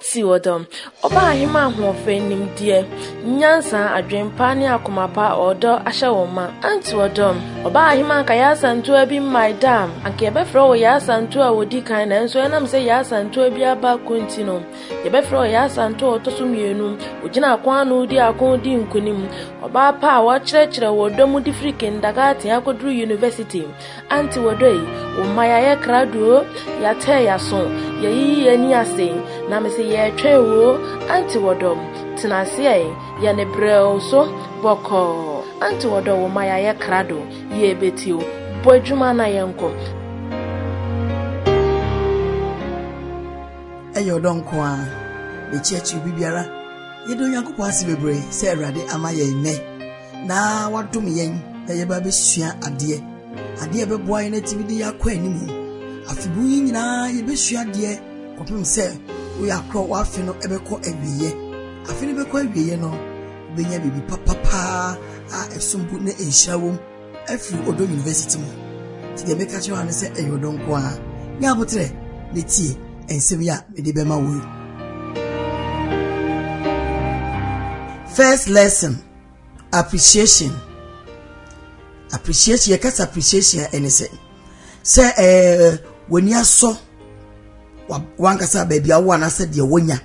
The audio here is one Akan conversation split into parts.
Anti wɔ dɔm. Ɔbaa ahemaa ahoɔfɛ, nimdeɛ, nyansa, adwen pa ne akoma pa a ɔdɔ ahyɛ wɔn ma. Anti wɔ dɔm. Ɔbaa ahemaa anka Yaasa Ntoa bi mmae da a, anka yɛbɛfrɛ wo Yaasa Ntoa a ɔdi kan nanso ɛnam sɛ Yaasa Ntoa biara ba ko nti no, yɛbɛfrɛ wo Yaasa Ntoa a ɔtɔ so mmienu. Ɔgyina ako ano di ako di nkonim. Ɔbaa pa a wɔakyerɛkyerɛ wɔ ɔdɔ mu de firi kindagaten akɔduru yunivɛsiti. Aunty wɔ dɔ yi wo mma yayɛ krado oo yatɛɛ yaso yayiyi yɛni ase na mese yɛtwɛn wo oo aunty wɔ dɔ tena ase ɛɛ yɛne brɛ oo so bɔkɔɔ aunty wɔ dɔ wo mma yayɛ krado yɛbɛti oo bɔ adwuma na yɛnkɔ. Ɛyɛ ɔdɔ nko ara na ɛkyiakyiri biribiara. Yɛda Onyankopɔn ase bebree sɛ Awurade ama yɛn nnɛ. na wadom yɛn na yɛba abɛsua adeɛ adeɛ a ɛbɛboa yɛn atumi de yɛakɔ anim afebu yi nyinaa yɛbɛsua adeɛ kɔpem sɛ woyɛ akorɔ w'afe no ɛbɛkɔ awieɛ afe no bɛkɔ awieɛ no wobɛnya biribi papapaa a ɛsom bo ne nhyira wom afiri ɔdɔ university mu nti deɛ meka kyerɛ wa no sɛ ɛyɛ ɔdɔ nko a nyɛ aboterɛ ne tie nsɛm yi a mede bɛma wo yi first lesson Appreciation. Appreciation, yɛka sɛ appreciation a ɛne sɛ sɛ ɛɛ w'ani asɔ wankasa baabi a wowɔ anaasɛ deɛ wonya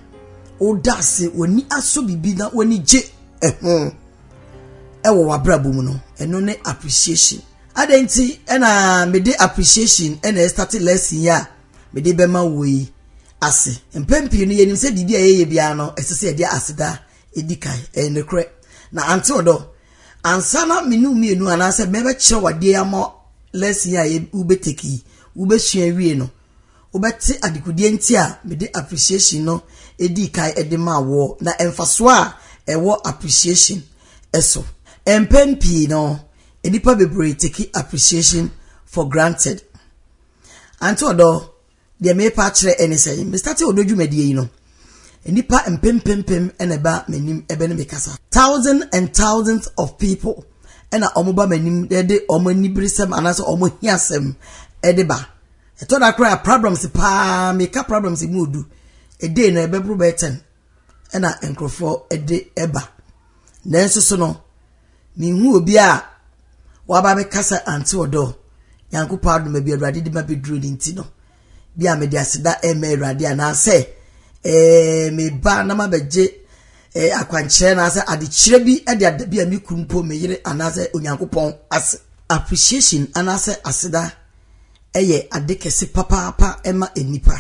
woda ase w'ani asɔ biribi na w'ani gye ɛho ɛwɔ w'abrabɔ mu no ɛno ne appreciation adɛn nti ɛna mede appreciation ɛna ɛstate lesson yi a mede bɛma wo yi ase mpɛn pii no yɛnim sɛ biribi a yɛyɛ biara no ɛsɛ sɛ yɛde aseda edi kan. Ɛyɛ nokorɛ. Na ante wo dɔ. Ansa na me ne wo mmienu anaasɛ mɛbɛkyerɛ wo adeɛ yi ama lesson yi a yɛ wobɛtake yi, wobɛsua awie no, wobɛte adekodeɛ nti a mede appreciation no dii kan de maa woɔ na mfasoɔ a ɛwɔ appreciation so. Mpɛn pii no, nnipa bebree take appreciation for granted. Ante wo dɔ. Deɛ merepa akyerɛ ne sɛ, mestate ɔdɔ dwumadie yi no, nnipa mpempempem na ɛba m'anim bɛne me kasa. Thousands and thousands of people na wɔba m'anim de wɔn aniberesɛm anaasɛ wɔn ahiasɛm de ba. Ɛtɔ da koraa problems paa, meka problems mu odu, a day no ɛbɛboro bɛyɛ ten. na nkurɔfoɔ de ba. Nanso so no, menhu obiara a waba abɛkasa Aunty Odor. Nyankopɔn adom baabi a Awurade de ma bɛduru no nti no, bi a mede aseda ɛrema Awurade anaasɛ eh, meba na mabɛgye eh, akwankyerɛ anaasɛ adekyerɛ bi de ada bi a me kunu mpo me yere anaasɛ Onyankopɔn ase. Appreciation anaasɛ aseda yɛ ade kɛse papaapa ma nnipa.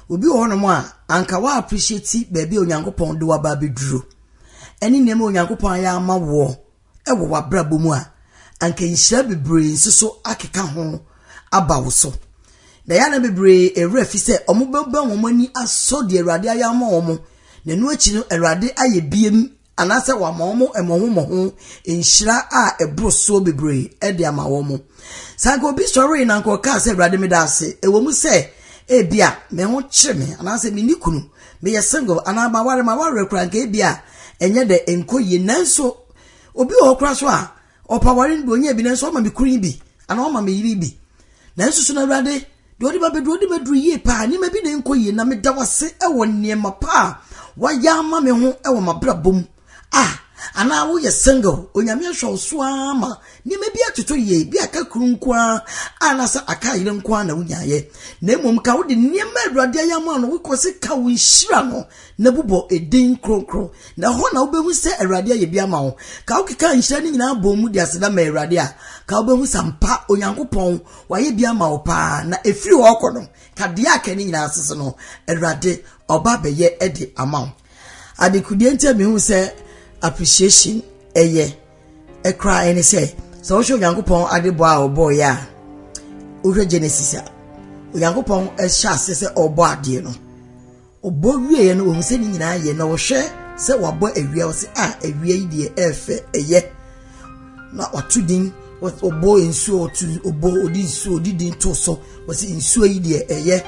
Obi wɔ hɔnom a, anka wa appreciate baabi a Onyankopɔn de waba abɛduru, ɛne nneɛma a Onyankopɔn ayɛ ama woɔ wɔ w'abrabɔ mu a, anka nhyira bebree nso so akeka ho aba wo so. Na yɛ na bebree ɛwerɛ fi sɛ wɔbɛbɛn wɔn ani asɔ deɛ Awurade ayɛ ama wɔn, na ɛno akyi no Awurade ayɛ biem anaasɛ wama wɔn mmɔho mmɔho nhyira a ɛboro soɔ bebree de ama wɔn. Sɛ anka obi sɔree na anka ɔkaa sɛ, Awurade, meda ase, ɛwɔ mu sɛ ebia me ho kyere me, anaasɛ menni kunu, meyɛ single, anaa maware, mawareɛ koraa, anka ebia ɛnyɛ dɛ, ɛnkɔ yie. Nanso, obi wɔ hɔ koraa so a, Ɔpɛ aware no bi, ɔnya bi, nanso ɔma me kunu yi bi, anaa ɔma me yere yi bi. Nanso so na Awurade deɛ ɔde ba bɛduru ɔde bɛduru yie paa, nneɛma bi na ɛnkɔ yie, na meda wase wɔ nneɛma pa a wayɛ ama me ho wɔ m'abrabɔ mu. Ah, anaa woyɛ single, onyame ahwɛ wo so ara ma nneɛma bi atotɔ yie, bi aka kuru nko ara, anaasɛ aka yere nko ara na wonyaeɛ. Na mmom ka wode nneɛma Awurade ayɛ ama no, wokɔ se ka wo nhyira no. na bobɔ edin kronkron, na ɛhɔ na wubehu sɛ Awurade ayɛ bi ama wo. Ka wokeka nhyira no nyinaa bom mu de aseda ma Awurade a, ka wubehu sɛ ampa Onyankopɔn wayɛ bi ama wo paa, na efiri hɔ rekɔ no, ka deɛ aka no nyinaa ase sɛ no Awurade ɔba bɛyɛ de ama wo. Adekodie nti a mehu sɛ appreciation ɛyɛ ɛkora ɛne sɛ, sɛ wohwɛ Onyankopɔn adebɔ a ɔbɔɔyɛ a, wohwɛ Genesis a, Onyankopɔn ɛhyɛ ase sɛ ɔbɔ adeɛ no, Ɔbɔ wieeɛ no ɔhu sɛ ne nyinaa yɛ na ɔhwɛ sɛ wabɔ awia ɔsɛ a ah, awia yi deɛ ɛɛfɛ ɛyɛ na ɔto din ɔbɔ nsuo ɔto ɔbɔ ɔde nsuo ɔde din to so ɔsɛ nsuo yi deɛ ɛyɛ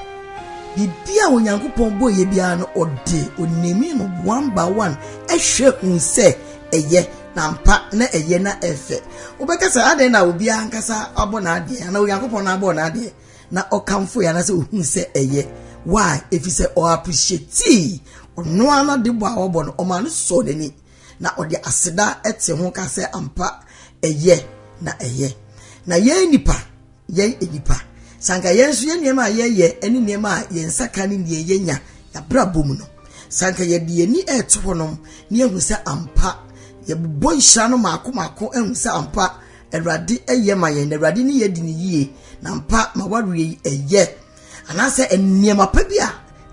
biribi a onyankopɔn bɔ yɛ biara no ɔde onimi no one by one ɛhwɛ hu sɛ ɛyɛ na mpa na ɛyɛ na ɛfɛ wobɛka sɛ adɛn na obiara nkasa abɔ n'adeɛ anaa onyankopɔn na abɔ n'adeɛ na ɔkamfo yɛ anasɛ ohun sɛ ɛyɛ why efisɛ ɔ appreciate ɔno ara n'ade bɔ a ɔbɔ no ɔma no sɔ n'ani na ɔde aseda ɛte ho ka sɛ ampa ɛyɛ na ɛyɛ na yɛn nipa yɛn nipa sanka yɛn nso yɛn nneɛma a yɛyɛ ɛne nneɛma a yɛn nsa ka ne nea yɛnya yɛabrabɔ mu no sanka yɛde yɛn ani ɛto hɔnom ne ehu sɛ ampa yɛbobɔ nhyira no maako maako ehu sɛ ampa Awurade yɛ ma yɛn, na Awurade ne yɛn di no yie, na mpa ma wareɛ yi ɛyɛ. Anaasɛ nneɛma pa bi a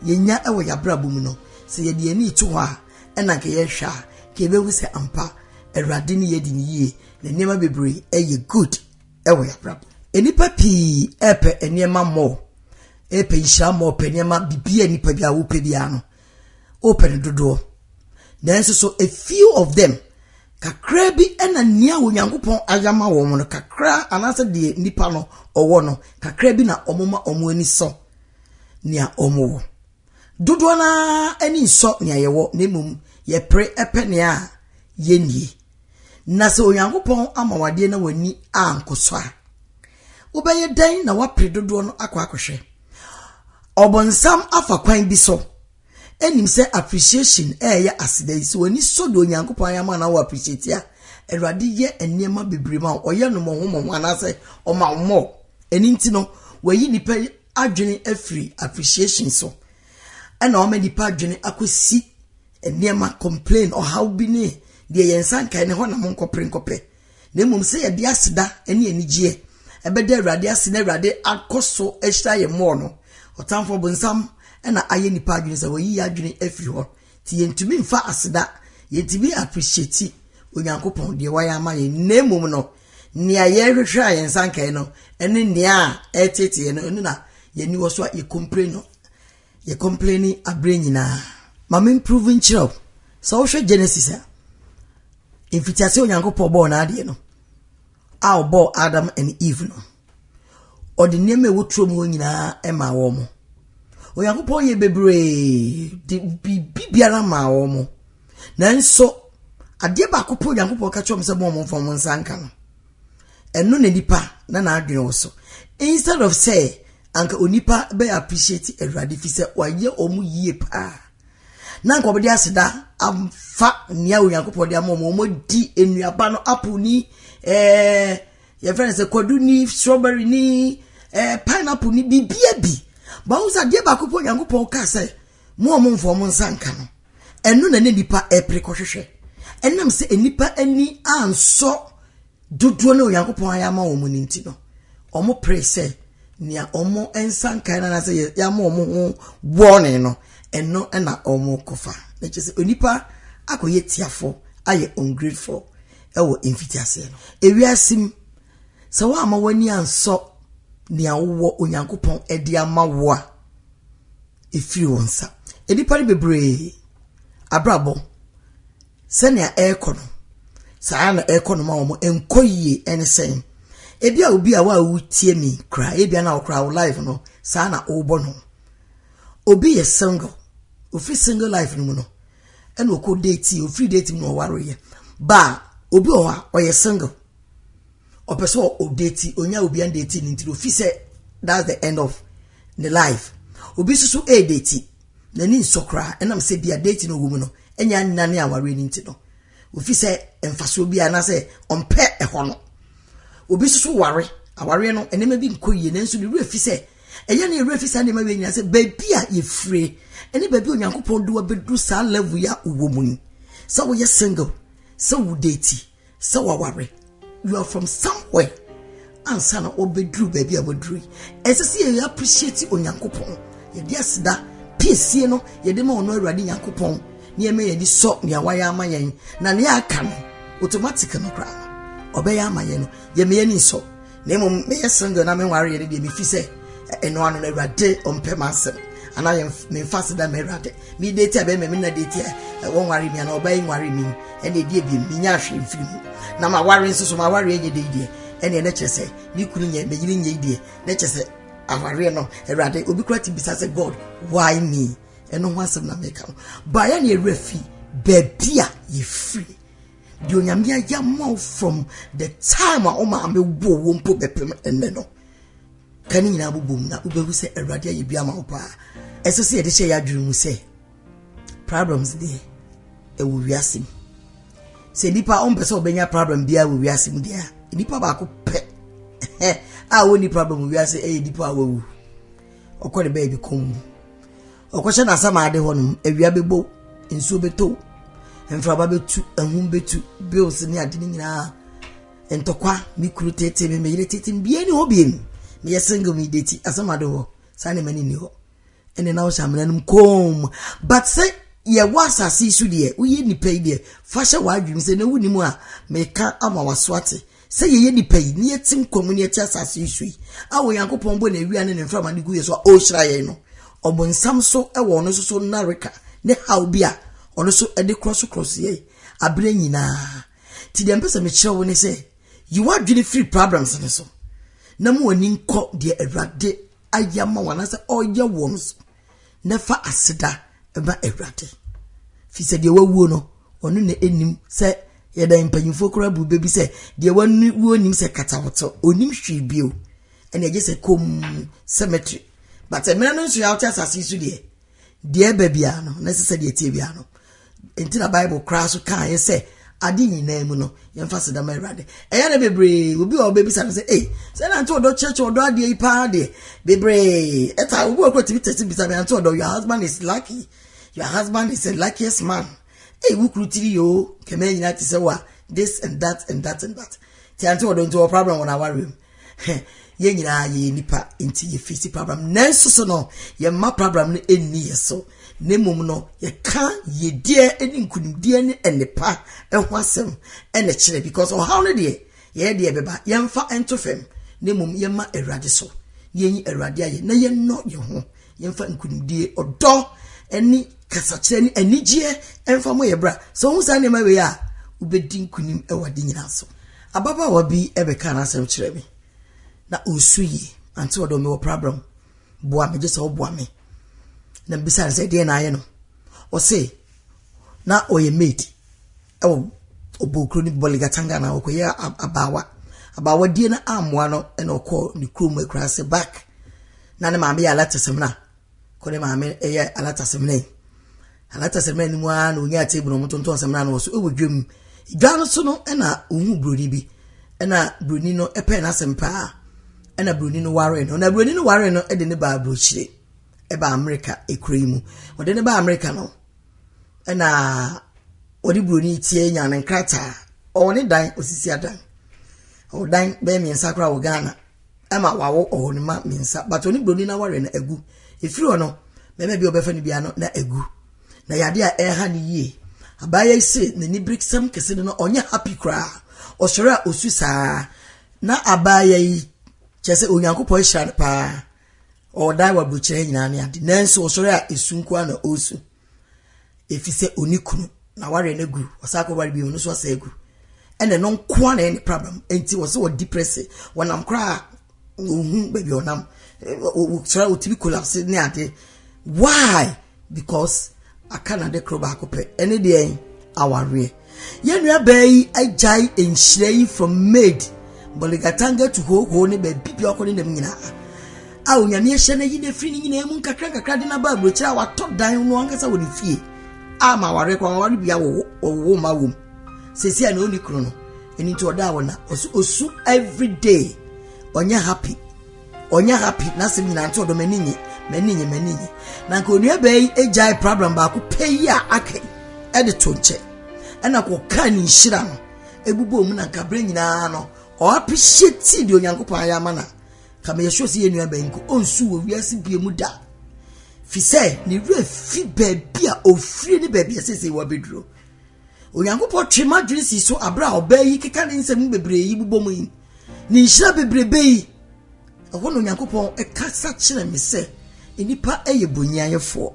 yɛnya wɔ yɛabrabɔ mu no, sɛ yɛde ani to hɔ a, ɛna nka yɛhwɛ a, nka yɛbɛhu sɛ ampa Awurade ne yɛn di no yie, na nneɛma bebree ɛyɛ good ɛwɔ yɛabrabɔ. Nnipa pii ɛpɛ nneɛma mmɔɔ, ɛpɛ nhyira mmɔɔ, pɛ nneɛma biribi a nnipa bi a wopɛ biara no, wopɛ no dodoɔ. Nanso so a few of them, kakraa bi na nea Onyankopɔn ayɛ ama wɔn no, kakraa anaasɛ deɛ nipa no ɔwɔ no, kakraa bi na wɔma wɔn ani sɔ nea wɔwɔ. Dodoɔ no ara ani nsɔ nea yɛwɔ, na mmom yɛpere pɛ nea yɛnnie. Na sɛ Onyankopɔn ama wadeɛ na w'ani ankɔ so a, Wobɛyɛ dɛn na woapere dodoɔ no akɔ akɔhwɛ? Ɔbonsam afa kwan bi so ɛnim sɛ appreciation ɛyɛ aseda yi sɛ w'ani sɔ deɛ Onyankopɔn ayɛ ama na wɔ appreciate a Awurade yɛ nneɛma bebree ma ɔyɛ no mmɔho mmɔho anaasɛ ɔma wo mmɔ ɛno nti no wayi nipa adwene afiri appreciation so ɛna ɔma nipa adwene akɔsi nneɛma complain ɔhaw bi ne deɛ yɛn nsa nkae ne hɔ na mo nkɔpere nkɔpɛ na mmom sɛ yɛde aseda ne anigyeɛ bɛda Awurade ase na Awurade akɔ so ahyira yɛn mmɔɔ no. Ɔtamfo ɔbonsam na ayɛ nnipa adwene sɛ wayi yɛn adwene afiri hɔ, nti yɛntumi mfa aseda, yɛntumi appreciate Onyankopɔn deɛ wayɛ ama yɛn, na mmom no nea yɛrehwehwɛ a yɛn nsa nkae no ne nea ɛreteetee yɛn no, ɛno na yɛn ani wɔ so a yɛ complain no. Yɛ complaining aberɛ nyinaa. Ma me prove nkyerɛ wo. Sɛ wohwɛ Genesis a, mfitiase Onyankopɔn bɔɔ n'adeɛ no, a ɔbɔɔ Adam and Eve no, ɔde nneɛma a ɛwɔ turo mu hɔ nyinaa maa wɔn. Onyankopɔn yɛ bebree de biribi biara maa wɔn. Nanso, adeɛ baako pɛ Onyankopɔn ka kyerɛ wɔn sɛ mo wɔn mfa wɔn nsa nka no. Ɛno na nipa na n'adwene wɔ so. Instead of sɛ Anka onipa bɛ appreciate Awurade fi sɛ wayɛ wɔn yie paa. Na anka wɔde aseda afa nea Onyankopɔn de ama wɔn. Wɔdi nnuaba no, apple ni, eh, yɛfrɛ no sɛ kwadu ni, strawberry ni, eh, pineapple ni, biribiara bi. Bawo sɛ adeɛ baako pɔ Onyankopɔn kaa sɛ mo a wɔmfa wɔn nsa nka no. Ɛno na ne nipa ɛpere kɔhwehwɛ. Ɛnam sɛ nnipa ani ansɔ Dodoɔ no a Onyankopɔn ayɛ ama wɔn no nti no, wɔperee sɛ nea wɔn nsa nkae no anaasɛ yɛama wɔn ho wɔne no, ɛno na wɔkɔfa. Na kyerɛ sɛ onipa akɔyɛ tiafo, ayɛ ungrateful ɛwɔ mfitiaseɛ no. Ewiase mu, sɛ woamma w'ani ansɔ nea wowɔ Onyankopɔn de ama wo a, ɛfiri wo nsa. Nnipa no bebree abrabɔ Sɛnea ɛrekɔ no, saa ara na ɛrekɔ no ma wɔn. Ɛnkɔ yie ɛne sɛn? Ebi a obi a wo a wotie me koraa, ebi a na ɔkoraa wo life no, saa na wobɔ no. Obi yɛ single, ofiri single life no mu no, ɛna ɔkɔ date, ofiri date mu na ɔwareyɛ. Ba obi wɔ hɔ a, ɔyɛ single, ɔpɛ sɛ ɔdate, onya obi an date ne ntiri, ofi sɛ that's the end of the life. Obi nso so ɛredate. N'ani nsɔ koraa ɛnam sɛ bia date no ɔwɔ mu no anya nna ne awareɛ no nti no. Ɔfi sɛ mfasoɔ biara anaasɛ ɔmpɛ ɛhɔ no. Obi nso so ware, awareɛ no nneɛma bi nkɔ yie nanso ne werɛ fi sɛ ɛyɛ ne werɛ fi saa nneɛma wei nyinaa sɛ baabi a yɛfire ɛne baabi a Onyankopɔn de wabɛduru saa level yi a wowɔ mu yi sɛ woyɛ single sɛ wo date Sɛ waware, you are from somewhere ansa na wabɛduru baabi a waduru yi. Ɛsɛ sɛ yɛyɛ appreciate Onyankopɔn. Yɛde aseda piesie no yɛde ma ɔno Awurade Nyankopɔn na yɛma yɛde sɔ nea wayɛ ama yɛn na nea aka no automatic no koraa no ɔbɛyɛ ama yɛn no yɛma yɛn ani nsɔ Na mmom meyɛ single na menwareɛ no deɛ mefi sɛ ɛno ano no awurade ɔmpɛ m'asɛm anaa yɛ memfa ase da ma awurade mede ti a bɛma me na de ti a wɔnware mi anaa ɔbaa yi nware mi ɛne ɛdeɛ bi menya ahwere mfiri mu na maware nso so maware ɛnyɛ dɛ deɛ ɛne ɛne kyerɛ sɛ me kunu nyɛ meyere nyɛ deɛ ne kyerɛ sɛ awareɛ no awurade obi kora te bisa sɛ god why me ɛno ho asɛm na meka ho baeɛ ne awura fi baabi a yɛfiri Deɛ Onyame ayɛ ama wo from the time a wo maame woo wo mpo bɛpem ɛnnɛ no, ka ne nyinaa bobom na wobɛhu sɛ Awurade ayɛ bi ama wo paa. Ɛsɛ sɛ yɛde hyɛ yɛ adwene mu sɛ problems deɛ ɛwɔ wiase mu. Sɛ nipa ɔmpɛ sɛ ɔbɛnya problem biara wɔ wiase mu deɛ a, nipa baako pɛ a wɔnni problem wɔ wiase ɛyɛ nipa a wawu. Ɔkɔ ne baabi kɔn mu. Ɔkɔhyɛ n'asamade hɔ no, awia bɛbɔ, nsuo bɛtɔ, mframa bɛtu, ahum bɛtu, bills ne ade no nyinaa, ntɔkwa, me kuru tete me, me yere tete me, bie ne hɔ bie me, meyɛ single me deti, asamade hɔ, saa ne ma ne ni hɔ. Ɛne na wohyɛ amena no mu koom. But sɛ yɛwɔ asase yi so deɛ, woyɛ nipa yi deɛ, fa hyɛ w'adwene mu sɛ na wonim a, meka ama waso ate. Sɛ yɛyɛ nnipa yi, na yɛte nkwa mu, na yɛte asase yi so yi, a Onyankopɔn bɔ n'awia ne ne mframa de gu yɛn so a ɔrehyira yɛn no, ɔbonsam so wɔ ɔno nso so nnareka ne haw bi a ɔno nso de korɔsokorɔso yɛn abere nyinaa. Nti deɛ mpɛ sɛ mekyerɛ wo ne sɛ, yi w'adwene firi problems no so, na ma w'ani nkɔ deɛ Awurade ayɛ ama wo anaasɛ ɔreyɛ wɔ no so. na fa aseda ma Awurade. Fi sɛ deɛ wawuo no, ɔno na ɛnim sɛ yɛda mpanyinfoɔ koraa bu bɛbi sɛ deɛ wawuo nim sɛ katawɔtɔ, ɔnim hwee bio. Ɛna ɛgye sɛ kom cemetery. But mmerɛ no nso yɛ wote asase so deɛ, deɛ ɛba biara no, na ɛsɛ sɛ deɛ ɛteɛ biara no, Enti na Bible koraa so kaa yɛn sɛ, ade nyinaa mu no, yɛmfa aseda ma Awurade. Ɛyɛ na bebree, obi wɔ ɔbɛbisa no sɛ, ei, sɛ na nte ɔdɔ kyerɛkyerɛ ɔdɔ adeɛ yi paa deɛ, bebree, ɛta obi wɔ kɔ tumi tɛsi bisa me ante ɔdɔ, your husband is lucky, your husband is the luckiest man. Ei, wo kuru tiri yoo, kɛmɛ nyinaa te sɛ wa, this and that and that and that. Ti ante ɔdɔ nti wɔ problem wɔn awareɛ mu. Hɛ, yɛn nyinaa yɛyɛ nnipa, nti yɛfiri si prabram. Nanso so no, yɛmma prabram no nni yɛ so, na mmom no, yɛka yɛdeɛ ne nkunimdeɛ ne nnepa ho asɛm ɛna kyerɛ, because ɔhaw no deɛ, yɛyɛ deɛ ɛbɛba, yɛmfa nto fam, na mmom yɛma Awurade so, na yɛnyi Awurade ayɛ, na yɛnnɔ yɛn ho, yɛmfa nkunimdie ɔdɔ ne kasakyerɛ ne anigyeɛ ɛmfa mo yɛ bra sɛ wohu saa nneɛma wei a wobɛdi nkunim wɔ ade nyinaa so ababaawa bi bɛka n'asɛm kyerɛ me na ɔnsu yie ante ɔdɔ mewɔ problem boa me gye sɛ woboa me na mbisa no sɛ deɛ na ayɛ no ɔse na ɔyɛ maid ɛwɔ ɔbɔɔ kuro no Bolgatanga na ɔkɔyɛ abaawa abaawa die no ammoa no ɛna ɔkɔɔ ne kurom akura ase back na ne maame yɛ alatasamina kɔ ne maame ɛyɛ alatasamina yi alatasamina no mu ara na onyaa table na ɔmo tontɔn samina no wɔ so ɛwɔ dwam dwa no so no ɛna ohun buroni bi ɛna buroni no ɛpɛ n'asɛm paa ɛna buroni no ware no na buroni no ware no ɛde ne baa burokyire ɛba amerika ekura yi mu ɔde ne baa amerika no. ɛna wɔde buroni tie nya ne nkrataa ɔwɔ ne dan osisi adan ɔwɔ dan bɛyɛ mmiɛnsa koraa wɔ ghana ɛma wawo ɔwɔ ne ma mmiɛnsa but ɔne buroni no aware no agu efiri hɔ no mmarima bi a ɔbɛfa no bia no na agu na yadeɛ a ɛha no yie abaayewa yi se n'ani beresɛm kɛse no na ɔnyɛ happy koraa ɔsɔre a osu saa na abaayewa yi kyerɛ sɛ onyankopɔn ahyira no paa. Ɔdae wɔ aburokyerɛ nyinaa ne ade, nanso ɔsɔre a, esu nko ara na ɔresu. Ɛfiri sɛ ɔni kunu, na wareɛ no agu, ɔsan akɔ ware bio, ɔno nso asɛ agu. Ɛna ɛno nko ara na ɛne problem. Enti wɔ sɛ ɔdi prɛse, wɔnam koraa ɔhu baabi ɔnam, ɔsɔre a ɔtumi collapse ne ade. Why? Because aka na de koro baako pɛ ɛne deɛn awareɛ. Yɛn nua baa yi agyae nhyira yi from maid boligatanga to hoo hoo ne baabi bi ɔkɔ ne nam nyinaa a onyame ahyɛ no ayi no afiri no nyinaa mu nkakra nkakra de naba aburokyerɛ a watɔ dan no ankasa wɔ ne fie a ma aware kora waware bia wɔwo ma wom sɛsi a na ɔni kuro no ɛno nti ɔda a wɔna ɔso ɔsu everyday ɔnyɛ happy ɔnyɛ happy n'asɛm nyinaa nti ɔdɔ m'ani nye m'ani nye m'ani nye na nka onua bɛɛ yi agyae problem baako pɛ yi a aka yi ɛde to nkyɛn ɛna kɔ kaa ne nhyira no ebubɔ mu na nka bere nyinaa no ɔ appreciate deɛ onyankopɔn ayɛ ama na ka meyɛ sure sɛ yɛ nua bɛn nko ɔnsu wɔ wiase bie mu da fi sɛ ne werɛ fi baabi a ɔfiri ne baabi a sɛsɛ wɔ abɛduro Onyankopɔn twe m'adwene si so bere a ɔbaa yi keka ne nsɛm bebree yi bobɔ mu yi. Ne nhyira bebrebe yi, ɛhɔ na Onyankopɔn kasa kyerɛ me sɛ nnipa yɛ bonniayɛfoɔ.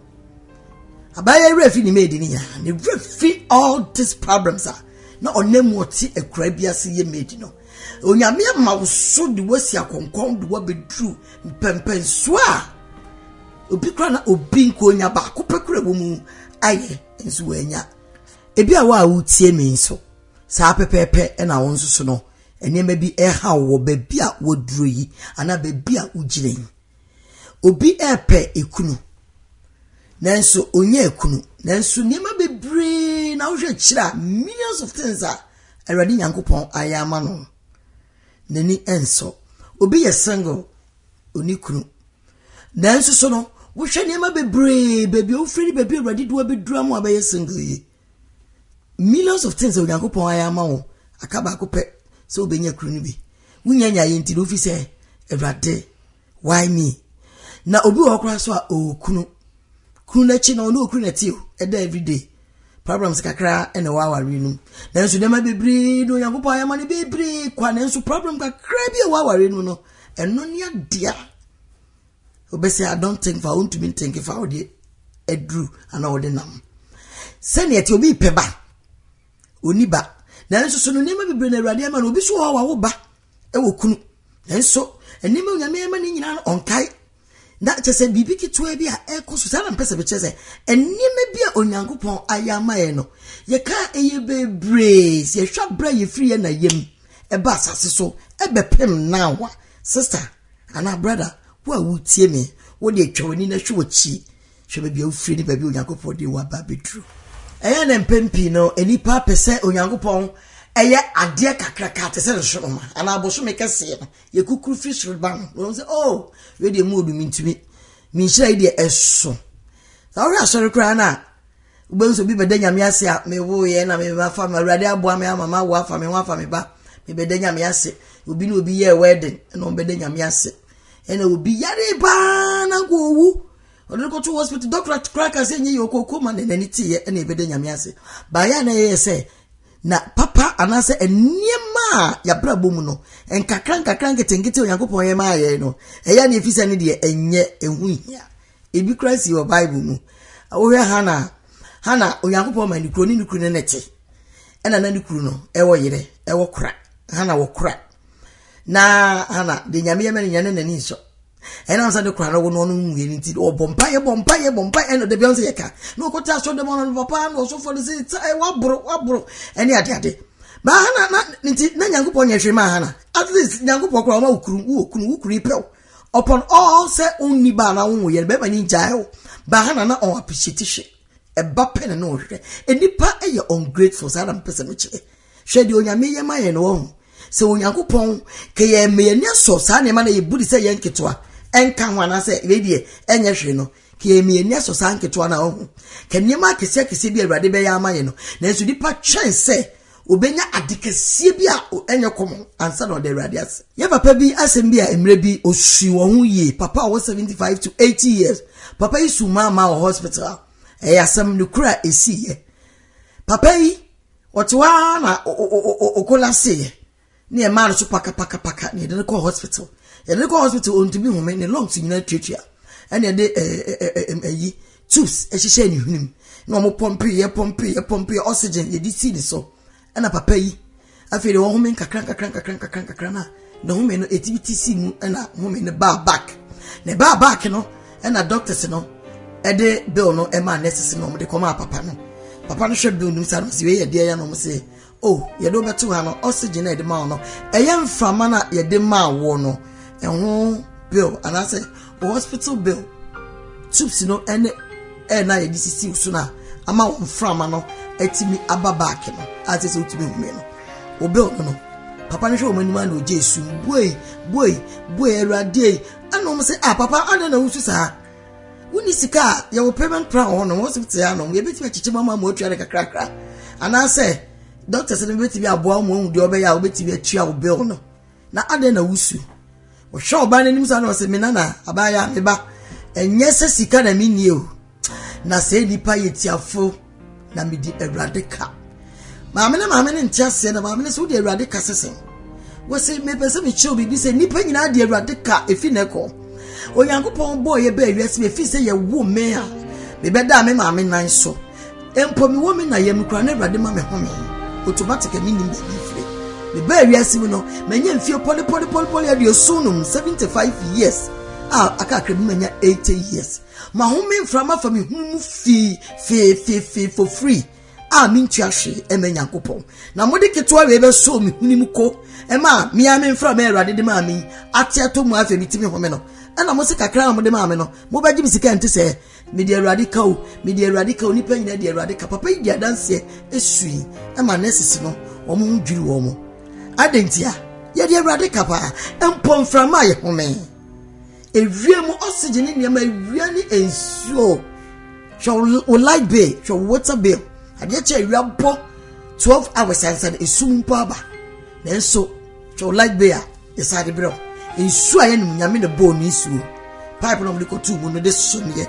Abaayewa yi werɛ fi ne maid no nyinaa, ne werɛ fi all these problems a na ɔnam mu ɔte akura bi ase yɛ maid no. Onyame ama wo so de wasi akɔnkɔn de wabɛduru mpɛmpɛnsoɔ a obi kora na obi nkonya baako pɛ kora wɔ mu ayɛ. nso wɔanya. Ebia wo a wotie me nso, saa pɛpɛɛpɛ na wo nso so no, nneɛma bi ɛha wɔ baabi a wɔduro yi anaa baabi a wogyina yi. Obi ɛrepɛ ekunu, nanso ɔnyɛ ekunu, nanso nneɛma bebree na wohwɛ kyerɛ a millions of things a Awurade Nyankopɔn ayɛ ama no, n'ani ɛnsɔ. Obi yɛ single, ɔni kunu nanso so no wohwɛ nneɛma bebree baabi a wofiri ne baabi a awurade de wabɛdura mu abɛyɛ single yi millions of things a onyankopɔn ayɛ ama wo aka baako pɛ sɛ wobɛnya kunu no bi wonya nya yɛ nti no wofi sɛ awurade why me na obi wɔ hɔ koraa so a ɔwɔ kunu kunu no akyi no ɔne ɔkunu na ɛte o ɛda everyday Problems kakra na ɛwɔ awareɛ no mu nanso nneɛma bebree na Onyankopɔn ayɛ ma no bebree kwa nanso problem kakra bi a ɛwɔ awareɛ no mu no ɛno ne adeɛ a wobɛsɛ I don't think fa wontumi ntenke fa wode aduru anaa wode nam sɛdeɛ ɛte obi pɛ ba ɔni ba nanso so no nneɛma bebree na awurade ama no obi so wɔ hɔ a wawo ba ɛwɔ kunu nanso nneɛma onyame ama no nyinaa no ɔnkae Na kyerɛ sɛ biribi ketewa bi a ɛrekɔ so saa na mpɛ sɛ mekyerɛ sɛ nneɛma bi a onyankopɔn ayɛ ama yɛn no yɛka a ɛyɛ bebree sɛ yɛhwɛ abere a yɛfiri yɛn na yam ɛba asase so ɛbɛpem now a sister anaa brother wo a wotie me wode atwa w'ani na hwɛ w'akyi hwɛ baabi a wofiri ne baabi a onyankopɔn de wo aba abɛduru ɛyɛ na mpɛn pii no nnipa pɛ sɛ onyankopɔn ɛyɛ adeɛ kakraka te sɛ nsoroma anaa abosome kɛseɛ no Yɛkukuru firi soro ba no, wɔn sɛ, oh, wei deɛ mu odu mintumi, me nhyira yi deɛ ɛso. Sɛ wohwɛ asɔre koraa no a, wobɛhu sɛ obi bɛda nyame ase a mewoeɛ na memafa ma awurade aboa me ama mawo afa me ho afa me ba mebɛda nyame ase obi ne obi yɛɛ wedding ɛna ɔbɛda nyame ase ɛna obi yare paa na nka owu ɔde no kɔto hospital dɔkora koraa ka sɛ nyɛ yɛ ɔkɔkɔ ma na n'ani teeɛ ɛna ɛbɛda nyame ase baayɛ a na ɛyɛ sɛ Na papa anaasɛ nneɛma a yɛabrabɔ mu no, nkakra nkakra nketenkete Onyankopɔn yɛ maa yɛn no, ɛyɛ ne efisɛ ne deɛ ɛnyɛ ɛho hia. Ebi koraa si wɔ Bible mu. Wohwɛ Hana a, Hana Onyankopɔn ma ne kuro ne ne kuru ne ne te. Ɛna na ne kuru no ɛwɔ yere, ɛwɔ kora. Hana wɔ kora. Na Hana de nyame yɛ mɛ ne nyane n'ani nsɔ. ɛna nsa de kora no wɔn ɔno nwie ne ti ɔbɔ mpa yɛ bɔ mpa yɛ bɔ mpa ɛna dabi ɔn sɛ yɛ ka na ɔkɔ te asɔ dɛm ɔno no papa na ɔsɔfo no sɛ ta ɛ waboro waboro ɛne ade ade ba hana na ne ti na nyankopɔ nyɛ hwee ma hana at least nyankopɔ kora ɔma wokuru wo okunu wo kuru ipɛw upon all sɛ ɔnni ba na wo yɛ bɛma ne gyae wo ba hana na ɔn appreciate hwɛ ɛba pɛ na na ɔhwɛ nipa yɛ ungrateful saa na mpɛ sɛ mekyerɛ Hwɛ deɛ Onyame yɛ ma yɛn no wɔn. Sɛ Onyankopɔn ka yɛn ma yɛn ani asɔ saa nneɛma na yɛbu de sɛ yɛn nketewa ɛnka ho anaasɛ wei deɛ ɛnyɛ hwee no, ka yɛn ma yɛn ani asɔ saa nketewa na wɔn. Ka nneɛma akɛseɛ akɛseɛ bi a Awurade bɛyɛ ama yɛn no. Nanso nipa twɛn sɛ obɛnya ade kɛseɛ bi a ɛnyɛ kɔmɔ ansa na ɔda Awurade ase. Yɛ papa bi asɛm bi a mmerɛ bi ɔsui wɔn ho yie, papa a ɔwɔ 75 to 80 years, papa yi su maa maa wɔ hospital, ɛyɛ asɛm no kura ɛsiiɛ. Papa yi Wɔte hɔ ara na okola seeɛ ne ɛmaa no so pakapakapaka na yɛde no kɔɔ hospital yɛde no kɔɔ hospital ɔntumi home ne lungs nyinaa tuatua ɛna yɛde ɛyi tubes ɛhyehyɛ ne hwenem na wɔn pɔmpe yɛ pɔmpe yɛ pɔmpe yɛ oxygen yɛde si ne so ɛna papa yi afei de wɔhome nkakra nkakra nkakra nkakra nkakra na. na home no etimi ti si mu na home no baa back na ɛbaa back no na doctors no ɛde bill no ɛmaa nurses no wɔn de kɔmaa papa no papa no hwɛ bill no mu saa no si wei yɛ deɛ yɛ na wɔn se oh yɛde wɔbɛto ha no oxygen na yɛde maa wɔn no ɛyɛ mframa na yɛde maa wɔn no ɛho bill anaasɛ. Wo hospital bill, tubes no ne ɛyɛ na yɛde sisi wo so no a ama wɔn mframa no atumi aba back no a sɛ sɛ wotumi hu me no wo bill no no papa no hwɛ wɔn anim ana ogye esu buei buei buei awurade yi ɛna wɔn sɛ ah papa ana na wusu saa wonni sika a yɛwɔ payment plan wɔ hɔ no wɔn sɛ te ano yɛbɛtumi akyekyɛ mu ama ama otua no kakrakra anaasɛ doctors no bɛtumi aboa wɔn ahu deɛ ɔbɛyɛ a wɔbɛtumi atua wo bill no. Na adɛn na wusu? Ɔhwɛ ɔbaa n'anim saa na ɔsɛ, me nana, abaayaa, me ba, ɛnyɛ sɛ sika na menni o, na sɛ nnipa yɛ tiafo na medi Awurade ka. Maame ne maame ne nte aseɛ na maame ne sɛ wode Awurade ka sɛ sɛn? wɔsi mepɛ sɛ mekyerɛw biribi sɛ nnipa nyinaa de awurade ka efi na ɛkɔ onyankopɔn bɔɔ yɛ bɛɛ wiase efi sɛ yɛwo mmɛn a mebɛda me maame nan so Mpo me wɔ me na yam koraa na awurade ma me home automatic a mennim baabi mfire me baa wiase mu no manya mfie pɔle pɔle pɔle pɔle aduoson nom 75 years a aka akra bi manya 80 years ma home mfra ma fa me hunu mu fii fee fee fee for free a mentua hwee ɛma nyankopɔn na mode ketewa wei bɛsoo me huni mu ko ɛma mea me mfra ma awurade de maa me ate atɔ mu afei metumi home no ɛna mo se kakra a mode maa me no mobɛgye me sika nte sɛ Mede Awurade ka o, mede Awurade ka o, nnipa nyinaa de Awurade ka. Papa yi di adanseɛ esui ɛma nɛsisi no wɔn ho dwiri wɔn mo. Adantia, yɛde Awurade ka paa, mpɔ mframa a yɛhome. Ewia mu oxygen ne nneɛma ewia ne nsuo. Hwɛ wo light bill, hwɛ wo water bill. Adeɛ kyɛ ewia bɔ 12 hours ansa na esum mpo aba. Nanso, hwɛ wo light bill a Yɛsan de brɛ wo nsuo a yɛnom nyame na bɔɔ ne nsuo pipe na wɔde kɔtuu mu no de someɛ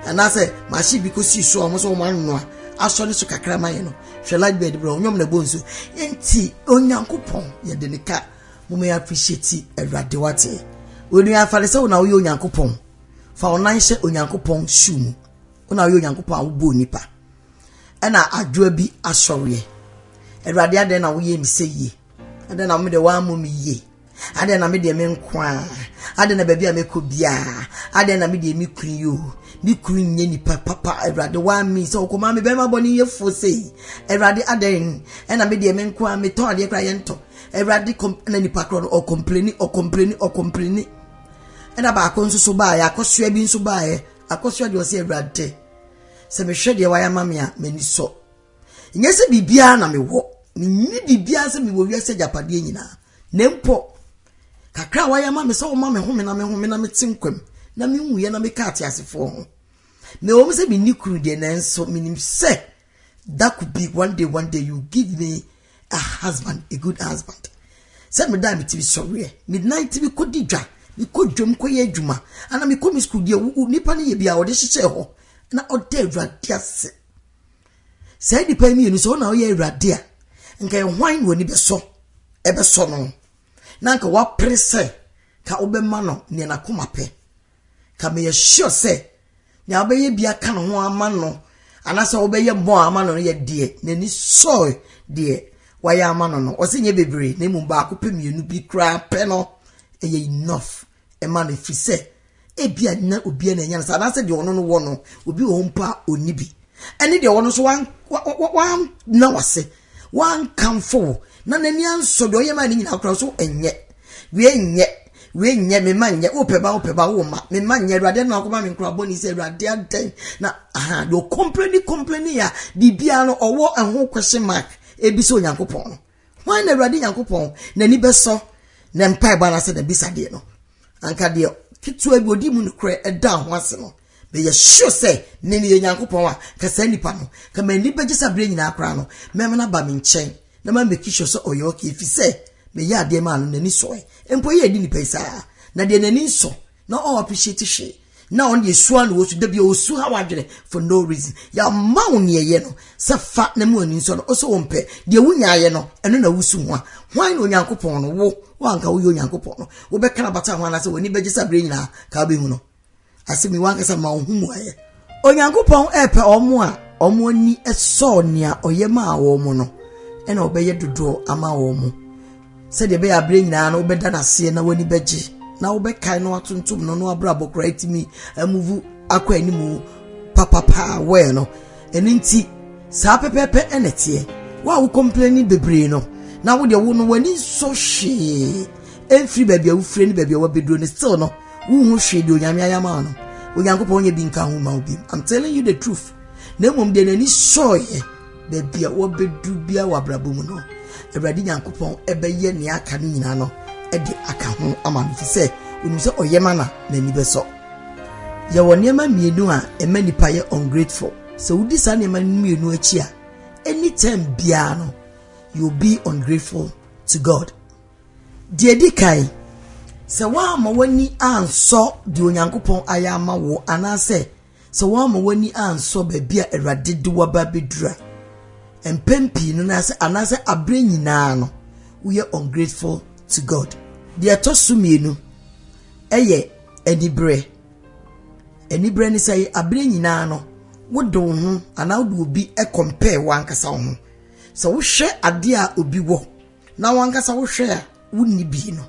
anaasɛ machine bi kɔsii so a wɔn sɛ wɔn anoa asɔ ne so kakra ma yɛ no hwɛ light bed brɛ ɔnyɔm na bɔ nsuo nti onyankopɔn yɛde ne ka mo mɛ appreciate awurade wate onua afare sɛ wona woyɛ onyankopɔn fa wo nan hyɛ onyankopɔn shoe mu wona woyɛ onyankopɔn a wobɔɔ nipa ɛna adwoa bi asɔreɛ awurade adɛn na woyɛ me sɛ yie Adɛn na mede woammɔ me yie? Adɛn na medeɛ me nko a? Adɛn na baabi a mekɔ biara? Adɛn na medeɛ me kunu yi o? Me kunu nyɛ nipa papa Awurade woamme sɛ ɔkɔmaa me bɛrima bɔne yɛfoɔ sei Awurade adɛn ɛna medeɛ me nko a metɔn adeɛ koraa yɛntɔ Awurade na nipa korɔ no ɔkɔmpleni ɔkɔmpleni ɔkɔmpleni ɛna baako nso so baeɛ akɔsoa bi nso baeɛ akɔsoa deɛ ɔsɛ Awurade sɛ mehwɛ deɛ wayɛ ama me a m'ani sɔ Nyɛ sɛ biribiara na mewɔ, menni biribiara sɛ mewɔ wiase agyapadeɛ nyinaa, na mpo kakra a wayɛ ama me sɛ wɔma me home na mehome na mete nkwam na menwuiɛ na meka ateasefoɔ ho. Mewɔ m sɛ menni kunu deɛ nanso menim sɛ that could be one day one day you give me a husband a good husband sɛ meda a metumi sɔreɛ midnight tumi kɔdi dwa mekɔ dwam kɔyɛ adwuma ana mekɔ me sukuu deɛ nipa no yɛ bi a ɔde hyehyɛ hɔ na ɔda awurade ase Saa nnipa yi mmienu, sɛ wɔn na wɔyɛ awurade a, nka hwan na w'ani bɛsɔ ɛbɛsɔ no na nka wapere sɛ ka wobɛma no nea n'akoma pɛ ka meyɛ sure sɛ nea wobɛyɛ bi aka ne ho ama no anaasɛ wobɛyɛ mmɔ a ama no no yɛ deɛ n'ani sɔe deɛ wayɛ ama no no ɔsɛ nyɛ bebree na mmom baako pɛ mmienu bi koraa pɛ no ɛyɛ enough ɛma no ɛfiri sɛ ebia na obiara na ɛnya no saa anaasɛ deɛ ɔno no wɔ no obi wɔ hɔ mpo a ɔnni bi ɛne deɛ ɔno nso wanna wase wankamfo wo na n'ani ansɔ deɛ ɔyɛ ma ne nyinaa koraa so ɛnyɛ wei nyɛ wei nyɛ me ma nyɛ wopɛ ba wopɛ ba wo ma me ma nyɛ awurade no akɔma me nkora bɔne sɛ awurade adɛn na aha deɛ ɔkompleni kompleni a biribiara no ɔwɔ ɛho question mark ebi sɛ onyankopɔn no Hwan na Awurade Nyankopɔn n'ani bɛsɔ ne mpaebɔ anaasɛ n'abisadeɛ no? Anka deɛ ketewa bi ɔdi mu nokorɛ ɛda ho ase no, meyɛ sure sɛ me meyɛ Nyankopɔn a, ka saa nipa no, ka m'ani bɛgye sɛ aberɛ nyinaa koraa no, mɛma no aba me nkyɛn na ma make sure sɛ ɔyɛ okay, ɛfiri sɛ meyɛ adeɛ maa no, n'ani sɔe. Mpo yɛ adi nipa yi saa, na deɛ n'ani nsɔ na ɔn appreciate hwee, na ɔno deɛ sua na wɔsu da bi ɔsu ha wadwene for no reason yɛama wo neɛ yɛ no sɛ fa na mu ani nsɔ no ɔsɛ wɔn pɛ deɛ wonyaayɛ no ɛno na wosu ho a hwan na onyankopɔn no wo wanka woyɛ onyankopɔn no wobɛka no bata ho anaasɛ w'ani bɛgye sɛ berɛ nyinaa ka wobɛhu no asɛ mi wankasa ma wo ho mu ayɛ onyankopɔn ɛpɛ ɔmo a ɔmo ani sɔɔ nea ɔyɛ maa wɔn no ɛna ɔbɛyɛ dodoɔ ama wɔn Sɛdeɛ ɛbɛyɛ a berɛ nyinaa no wobɛda no aseɛ na w'ani bɛgye na wobɛkae no atontom no no abrabɔ koraa atumi amuvu akɔ animu papapaa wɛɛ no ɛno nti saa pɛpɛɛpɛ ɛna ɛteɛ wo a wo kɔmplɛni bebree no na wo deɛ wo no w'ani nsɔ hwee ɛmfiri baabi a wofiri ne baabi a wabɛduro no still no wohu hwee deɛ onyame ayɛ ama no onyankopɔn nyɛ bi nka ho ma wo bi i'm telling you the truth na mmom deɛ n'ani sɔeɛ Baabi a wɔbɛduru biara wɔ abrabɔ mu no, Awurade Nyankopɔn bɛyɛ nea aka no nyinaa no de aka ho ama no, ɛfiri sɛ onim sɛ ɔyɛ ma na n'ani bɛsɔ. Yɛwɔ nneɛma mmienu a ɛma nipa yɛ ungrateful. Sɛ wodi saa nneɛma mmienu akyi a, anytime biara no, you'll be ungrateful to God. Deɛ ɛdi kan, sɛ woamma w'ani ansɔ deɛ Onyankopɔn ayɛ ama wo anaasɛ Sɛ woamma w'ani ansɔ baabi a Awurade de wo aba abɛduru a, mpɛn pii no anaasɛ aberɛ nyinaa no, woyɛ ungrateful to God. Deɛ ɛtɔ so mmienu yɛ aniberɛ. Aniberɛ ne sɛ aberɛ nyinaa no, wode wo ho anaa wode obi compare w'ankasa wo ho. Sɛ wohwɛ adeɛ a obi wɔ Na wankasa wohwɛ a wonni bi no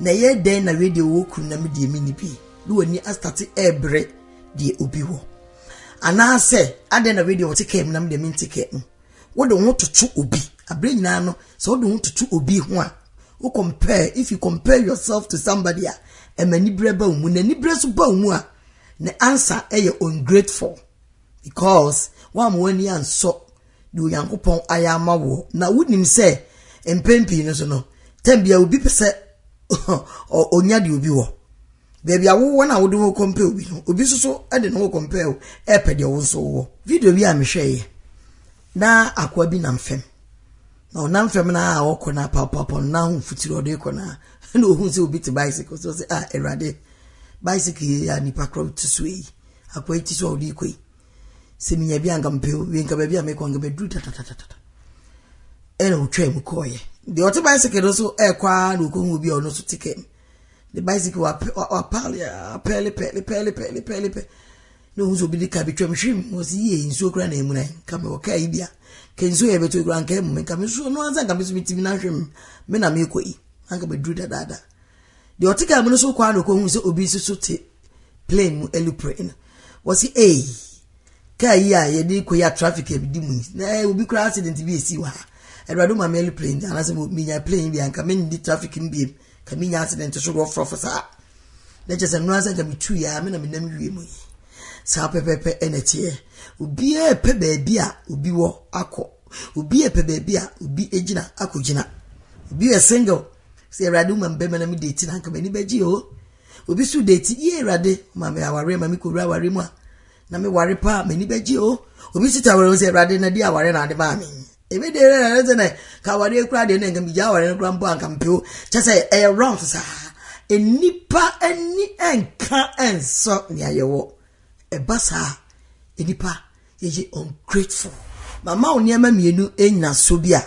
na ɛyɛ dɛn na wei deɛ ɔwɔ kunu na me deɛ menni bi na w'ani astate ɛrebrɛ deɛ obi wɔ anaasɛ adɛn na wei deɛ ɔte kaa mu na me deɛ mente kaa mu wode wo ho toto obi aberɛ nyinaa no sɛ wode wo ho toto obi ho a wo compare if you compare yourself to somebody a ɛma aniberɛ ba wo mu na aniberɛ so ba wo mu a na ansa ɛyɛ ungrateful because wɔn a wɔn ani ansɔ Nea Onyankopɔn ayɛ ama woɔ. Na wonim sɛ mpɛn pii no so no, tɛm biara obi pɛ sɛ ɔnya deɛ obi wɔ. Baabi a wowɔ no a wode wo kɔmpɛ obi no, obi nso so de ne ho kɔmpɛ o, ɛrepɛ deɛ wo nso wowɔ. Video bi a mehwɛeɛ na akoa bi nam fam na ɔnam fam no a ɔkɔ no apapapɔ no na ahomfutiri ɔde kɔ no a na ɔhu sɛ obi te bicycle so sɛ a awurade bicycle yi a nipa korɔ te so yi akoa yi te so a ɔde kɔ yi sɛ menya bi anka mepɛ o, wie nka baabi a mekɔ nka bɛduru tatatatatata. Ɛna ɔtwaa mu kɔɔeɛ. Deɛ ɔte bicycle no so ɛrekɔ ara na ɔkɔhu obi a ɔno nso te kam. Ne bicycle wapɛɛle pɛɛle pɛɛle pɛɛle pɛɛle pɛɛle pɛ na ɔhu sɛ obi de ka bi twam hwem ɔsi yie nsuo kora na amuna nka mewɔ kaa yi bia ka nsuo yɛ bɛtɔ kora nka amu me nka me nsuo no ansa nka me so metimi no ahwem me na mekɔ yi anka bɛduru dadaada Deɛ ɔte kaa mu no so kɔ ara na ɔkɔhunu sɛ obi nso so te plane mu alupre no wɔsi ei kaa yi a yɛde kɔ yi a traffic a ɛdi mu yi na eh, obi koraa accident bi esi wɔ ha awurade ma me plane anaasɛ menya plane bi anka mendi traffic no biem ka menya accident so rɔfrɔfo saa na kyɛ sɛ nnora sɛ nka metu yɛ a me na menam wie mu yi saa pɛpɛpɛ ɛna teɛ obiara pɛ baabi a obi wɔ akɔ obiara pɛ baabi a obi gyina akɔgyina obi yɛ single sɛ awurade woma mbɛma na mede ti na anka m'ani bɛgye o obi so de ti yie awurade ma me awareɛ ma me kɔwura awareɛ mu a na me ware paa m'ani bɛgye o obi so ta awareɛ sɛ awurade na di awareɛ na ade maa me ebi de ɛrɛ ɛrɛ sɛ na ka awareɛ kura deɛ na nka megya awareɛ no kura mpo anka mpe o kyɛ sɛ ɛyɛ wrong saa nnipa ani nka nsɔ nea yɛwɔ ɛba saa nnipa Yɛyɛ ungrateful. Mama wo nneɛma mmienu nnyinasoɔ bi a,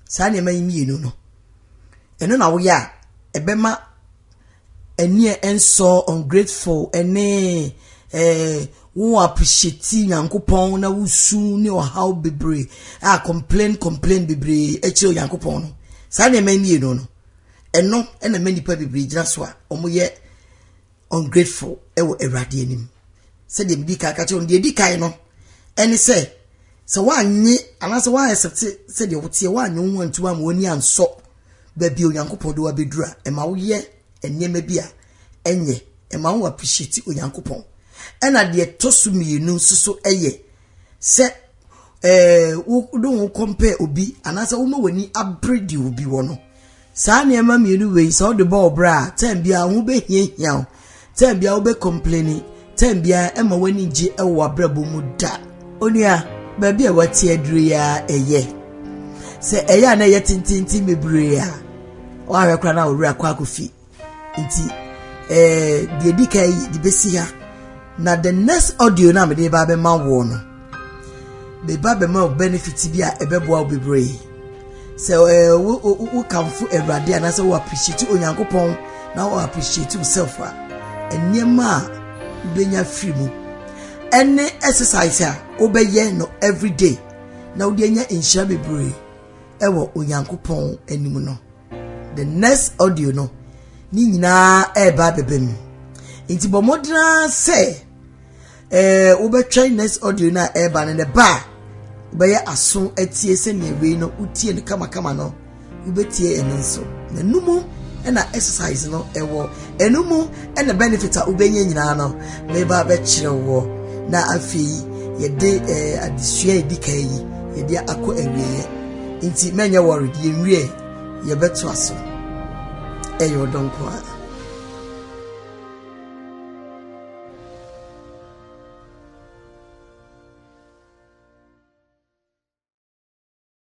saa nneɛma yi mmienu no, ɛno na woyɛ a, ɛbɛma ɛneɛ ɛnsɔ ungrateful ɛne eh, wo appreciate nyankopɔn na wosu ne ɔhaw bebree a complain complain bebree ɛkyerɛ onyankopɔn no saa nneɛma mmienu no ɛno ɛna mɛ nipa bebree gyina so a wɔyɛ ungrateful wɔ Awurade anim. Sɛdeɛ medi kan ka kyerɛ no, deɛ edi kan no ɛne sɛ sɛ woanye anaasɛ woaɛsɛte sɛdeɛ woteɛ woanye wo ho antu ama w'ani ansɔ baabi a Onyankopɔn de wabɛduru a ɛma woyɛ nneɛma bi a ɛnyɛ ɛma wo appreciate Onyankopɔn ɛna deɛ ɛtɔ so mmienu nso so ɛyɛ sɛ ɛɛ wo ne wo compare obi anaasɛ woma w'ani abere deɛ obi wɔ no saa nneɛma mmienu wei sɛ wode bɔ ɔbrɛ a tɛn biara ho bɛhiahia wo tɛn biara wobɛ complaini tɛn biara ɛma w'ani gye ɛwɔ w'abrabɔ mu da onua baabi a wate aduro yi a ɛyɛ sɛ ɛyɛ a na ɛyɛ tententen bebree a wɔahwɛ koraa na wɔwerɛ akɔ akɔfi Nti eh, deɛ ɛdi kan yi de bɛsi ha na the next audio no a mede ba bɛma woɔ no meba bɛma wo benefit bi a ɛbɛboa wo bebree sɛ eh, wokamfo awurade anaasɛ wo appreciate onyankopɔn na wo appreciate yourself a nneɛma a wobɛnya firi mu ɛne exercise a wobɛyɛ no everyday na wode anya nhyira bebree ɛwɔ onyankopɔn anim no The next audio no ne nyinaa ɛreba abɛba mu nti bɔ mmɔden ara sɛ ɛɛ wobɛtwɛn next audio no a ɛreba no ne ba a wobɛyɛ aso atie sɛnea wei no wotie no kamakama no wobɛtie ɛno nso na ɛno mu ɛna exercise no ɛwɔ ɛno mu ɛna benefit a wobɛnya nyinaa no meba bɛkyerɛ woɔ na afei yɛde ɛɛ eh, adesua a ɛdi kan yi yɛde akɔ awieɛ nti mɛnyɛ wɔre deɛ nwie yɛbɛto aso ɛyɛ ɔdɔ nko a